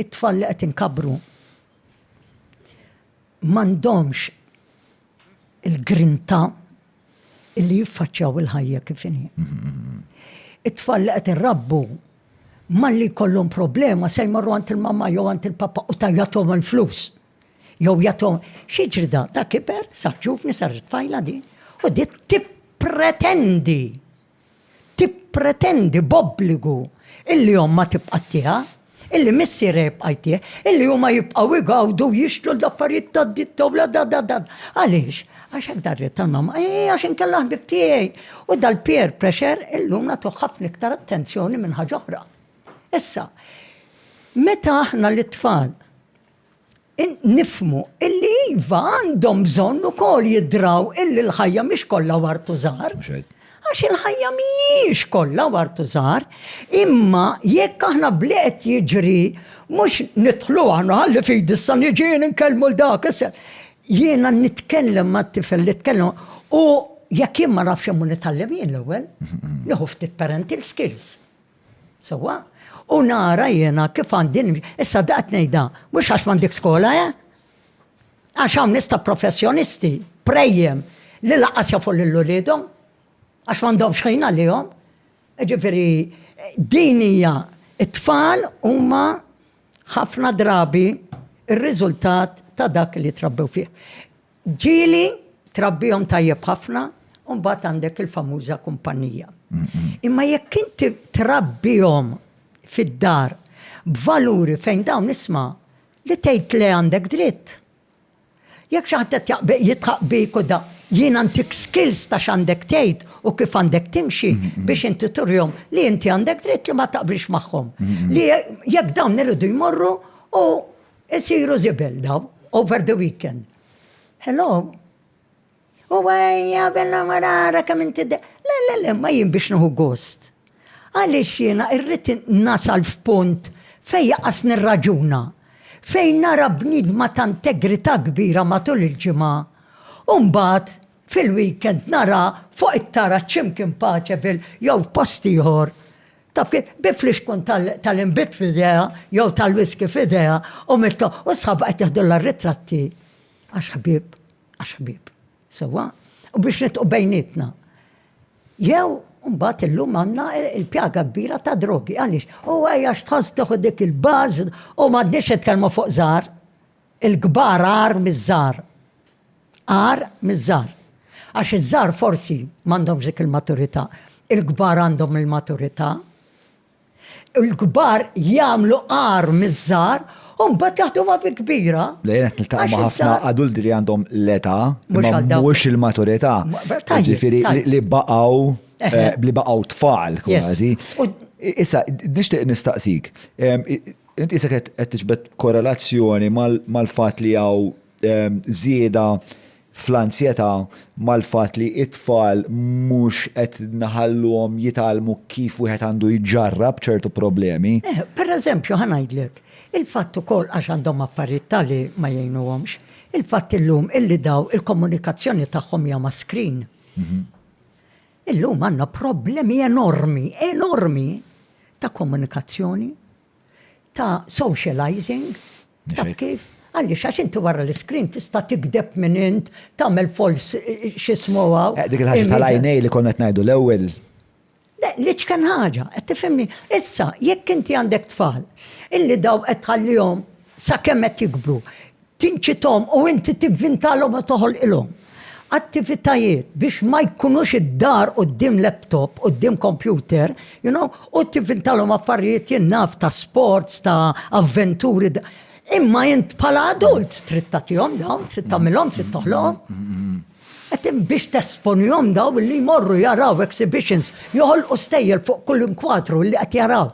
it-tfal li qed inkabbru m'għandhomx il-grinta li jiffaċċjaw il-ħajja kif inhi. It-tfal li qed irrabbu malli jkollhom problema se jmorru għand il-mamma jew għand il-papa u tajjathom il-flus. Jew jathom xiġri da ta' kiber, sa ġuvni sar tfajla di, u di tippretendi tippretendi b'obbligu illi ommha tibqa' ttiha, illi missierha jibqa' jtih, illi huma jibqgħu jgawdu u jixtru l-affarijiet tad-ditt ta' wladha da da. Għaliex? Għax hekk dariet tal-mamma. Eeh, għax inkella ħbieb tiegħi. U dal-peer pressure illum nagħtuh ħafna iktar attenzjoni minn ħaġa oħra. Issa, meta aħna lit-tfal, nifhmu illi iva għandhom bżonn ukoll jidraw illi l-ħajja mhix kollha wartu żgħar. Għax il-ħajja mhijiex kollha wartu żgħar, imma jekk aħna bliet jiġri mhux nidħlu aħna ħalli fidi issa niġieni nkellmu l dak issa. Jiena nitkellem mat-tifel li tkellem u jekk jien ma nafx imur nitgħallem jien l-ewwel, nieħu ftit parental skills. Sewwa? U nara jiena kif għandi nimxi. Issa da qed ngħidha, mhux għax m'għandek skola, eh? Għax hawn nies ta' professjonisti, prejjem, li laqas jafu lil uliedhom, għax m'għandhomx ħin għalihom. Ġifieri, din hija it-tfal huma ħafna drabi ir-riżultat ta' dak li trabbew fih. Ġieli trabbihom tajjeb ħafna u mbagħad għandek il-famuża kumpanija. Imma jekk inti trabbihom fid-dar b'valuri fejn dawn isma' li tgħid le għandek dritt. Jekk xi ħadd qed jitħaq bik u da, jiena ntik skills ta' x'għandek tgħid u kif għandek timxi biex inti turihom li inti għandek dritt li ma taqbilx magħhom. Li jekk dawn iridu jmorru u Isiru żibel daw, over the weekend. Hello? U għajja, bella marara, kam inti de. Le, le, le, ma jien biex nuhu gost. Għalix jiena irrit nasal f'punt fej jaqas nirraġuna. Fej nara bnidma ta' integrita kbira matul il-ġimgħa. Umbat, fil-weekend nara fuq it-tara ċimkien paċe fil jew post ieħor. Taf kif, bi flixkun tal-inbid f'idea, jew tal-whisky f'idea, u mitto, u sħab qed jieħdulla ritratti. Għax ħbib, għax ħbib. Sewa? U biex nitqu bejnietna. Jew, mbagħad illum għandna il-pjaga kbira ta' drogi. Għaliex? U għajja x'tħoss tieħu dik il-baż u m'għadniex nitkellmu fuq żar. Il-kbar għar miż-żar. agħar miż-żgħar. Għax iż-żgħar forsi m'għandhomx dik il-maturità, il-kbar għandhom il-maturità. Il-kbar jagħmlu agħar miż-żgħar u mbagħad jaħduha bi kbira. Le jien qed niltaqa' ma' ħafna adulti li għandhom l-età, mhux il-maturità. Ġifieri li baqgħu eh, li baqgħu tfal kważi. Issa, nixtieq nistaqsik, inti se qed tiġbed korrelazzjoni mal-fatt li hawn żieda fl-anzjetà mal-fatt li t-tfal mhux qed nħalluhom jitgħallmu kif wieħed għandu jġarrab ċertu problemi. Eh, per eżempju, ħa ngħidlek, il-fatt ukoll għax għandhom affarijiet tali ma jgħinuhomx, il-fatt illum illi daw il-komunikazzjoni tagħhom hija ma' screen. Mhm. Illum għandna problemi enormi, enormi ta' komunikazzjoni, ta' socializing, Taf kif? Għaliex għax inti wara l-iskrin tista' tikdeb minn int, tagħmel fols x'ismu hawn. Eh, dik il-ħaġa tal-għajnej li konna qed ngħidu l-ewwel. Le, li ċken ħaġa, qed tifhimni. Issa, jekk inti għandek tfal, illi daw qed tħallihom sakemm qed jikbru, tinċitom u inti tivvintalhom u toħolqilhom. Attivitajiet biex ma jkunux id-dar quddiem laptop, quddiem kompjuter, you know, u tivintalhom affarijiet jien naf ta' sports, ta' avventuri. Imma int bħala adult trid tagħtihom dawn, trid tagħmilhom, trid toħloqhom. Mm-hmm. Qed biex tesponihom daw li jmorru jaraw exhibitions, joħolqu stejjel fuq kull inkwatru li qed jaraw.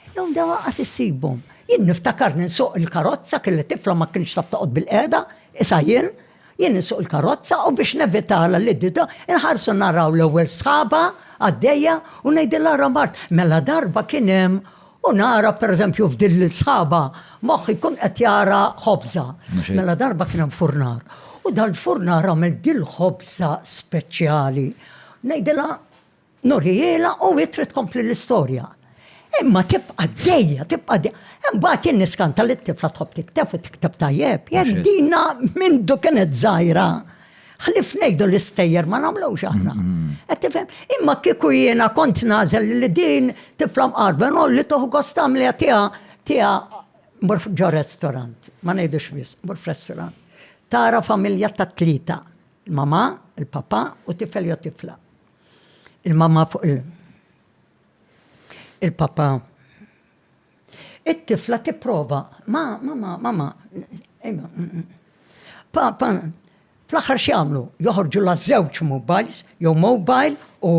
Illum daw qas issibhom. Jien niftakar ninsuq il-karozza kelli tifla ma kienx taf toqgħod bil-qiegħda, isa jien, Jien insuq il-karozza u biex nevitala li dido inħarsu naraw l-ewwel sħaba għaddejja u ngħidilha ra mart mela darba kien hemm u nara pereżempju f'din l-sħaba moħħi jkun qed jara ħobża. Mela darba kien hemm furnar. U dal-furnar għamel dil-ħobża speċjali. Ngħidilha Nurihielha u hi trid tkompli l-istorja. Imma tibqa' għaddejja, tibqa' għaddejja. Imbagħad jien niskanta li t-tifla tħobb tikteb u tikteb tajjeb. Jekk dina mindu kienet żgħira, ħlief ngħidu l-istejjer ma nagħmlux aħna. Qed tifhem? Imma kieku jiena kont nagħżel li din tifla mqarbha nħolli tieħu gost tagħmliha tiegħha, tiegħha mmur ġo restorant, ma ngħidux wisq, mmur f'restorant. Tara familja ta' tlieta, il-mama, il-papa u tifel jew tifla. Il-mamma fuq il- il-papa. It-tifla tipprova, ma, mama, mama, ejma, mm, mm. papa, fl-axar xiamlu, joħorġu la żewġ mobiles, jew mobile u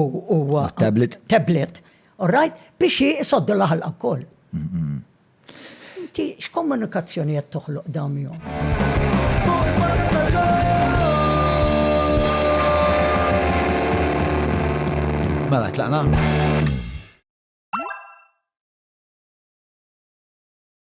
tablet. Tablet, all right, biex jisoddu laħal wkoll. Inti x'kommunikazzjoni qed toħloq Mela tlaqna?